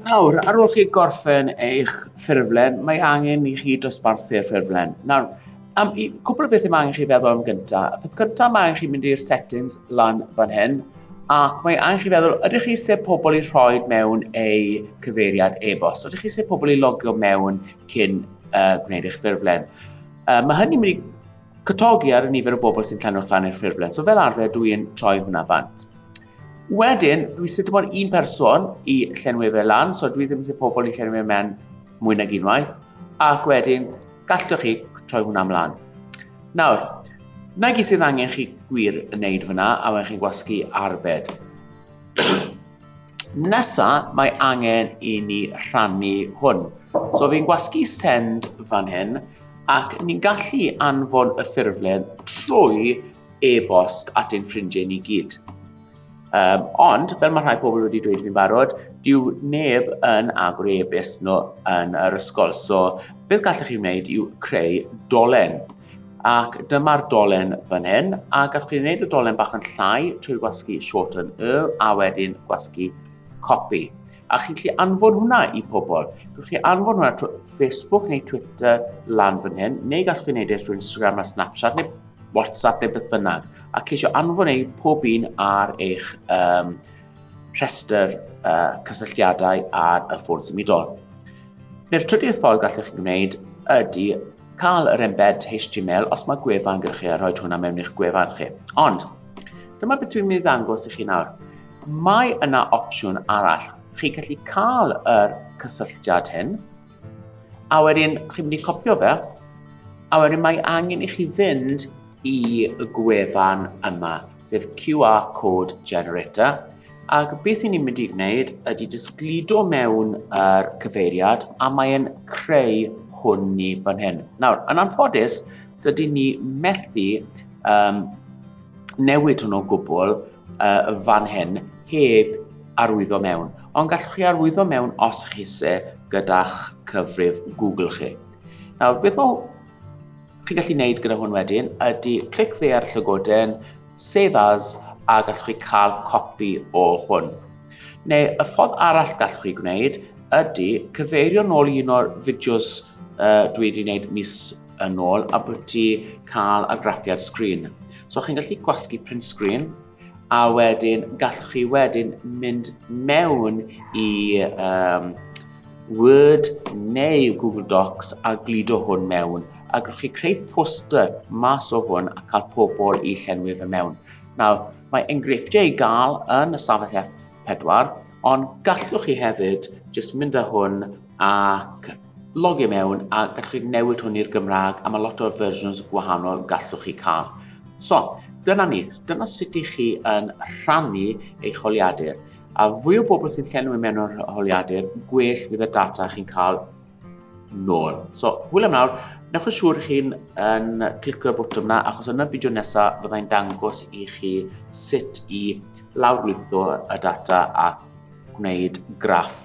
Nawr, ar ôl chi gorffen eich ffurflen, mae angen i chi dosbarthu'r ffurflen. Nawr, am i, cwbl o bethau mae angen chi feddwl am gyntaf. Y peth cyntaf mae angen chi mynd i'r settings lan fan hyn, ac mae angen chi feddwl, ydych chi eisiau pobl i rhoi mewn eu cyfeiriad e-bost? Ydych chi eisiau pobl i logio mewn cyn uh, gwneud eich ffurflen? Uh, mae hynny'n mynd i cytogi ar y nifer o bobl sy'n llenwch lan i'r ffurflen. So fel arfer, dwi'n troi hwnna bant. Wedyn, dwi eisiau dim ond un person i llenwi fe lan, so dwi ddim eisiau pobl i llenwi fe mewn mwy nag unwaith, ac wedyn gallwch chi troi hwnna ymlaen. Nawr, na gyd sydd angen chi gwir yn neud fyna, a wedyn chi'n gwasgu arbed. Nesa, mae angen i ni rhannu hwn. So fi'n gwasgu send fan hyn, ac ni'n gallu anfon y ffurflen trwy e-bost at ein ffrindiau ni gyd. Um, ond, fel mae rhai pobl wedi dweud fi'n barod, dyw neb yn agor ei e-bost nhw yn yr ysgol. So, beth gallwch chi wneud yw creu dolen. Ac dyma'r dolen fan hyn, a gallwch chi wneud y dolen bach yn llai trwy gwasgu shorten y, a wedyn gwasgu copy. A chi'n gallu anfon hwnna i pobl. Gallwch chi anfon hwnna trwy Facebook neu Twitter lan fan hyn, neu gallwch chi wneud e trwy Instagram a Snapchat, neu WhatsApp neu beth bynnag, a ceisio anfon eu pob un ar eich um, rhestr uh, cysylltiadau ar y ffôn symudol. Neu'r trydydd ffordd gallwch chi wneud ydy cael yr embed HTML os mae gwefan gyda chi a rhoi hwnna mewn i'ch gwefan chi. Ond, dyma beth dwi'n mynd i ddangos i chi nawr. Mae yna opsiwn arall. Chi'n gallu cael yr cysylltiad hyn, A wedyn chi'n mynd i copio fe, a wedyn mae angen i chi fynd i y gwefan yma, sef QR Code Generator, ac beth i ni'n mynd i wneud ydy jyst gludo mewn yr cyfeiriad a mae'n creu hwn ni fan hyn. Nawr, yn anffodus, dydy ni methu um, newid hwn o gwbl uh, fan hyn heb arwyddo mewn. Ond gallwch chi arwyddo mewn os chi se, gyda'ch cyfrif Google chi. Nawr, beth mae chi'n gallu gwneud gyda hwn wedyn ydy clic dde ar y llygoden, save as, a gallwch chi cael copi o hwn. Neu, y ffordd arall gallwch chi gwneud ydy cyfeirio nôl i un o'r fideos uh, dwi wedi gwneud mis yn ôl a bod ti cael argraffiad sgrin. So chi'n gallu gwasgu print sgrin a wedyn gallwch chi wedyn mynd mewn i um, Word neu Google Docs a gludo hwn mewn a gallwch chi creu poster mas o hwn a cael pobl i llenwi fe mewn. Nawr, mae enghreifftiau i gael yn y stafell F4, ond gallwch chi hefyd jyst mynd â hwn ac Logio mewn a gallwch chi newid hwn i'r Gymraeg a mae lot o versions gwahanol gallwch chi cael. So, dyna ni, dyna sut i chi yn rhannu eich holiadur. A fwy o bobl sy'n llenwi mewn o'r holiadur, gwell fydd y data chi'n cael nôl. So, hwyl am nawr, Newch yn siŵr chi'n yn clicio'r bwtwm yna achos yn y fideo nesaf fyddai'n dangos i chi sut i lawrlwytho y data a gwneud graff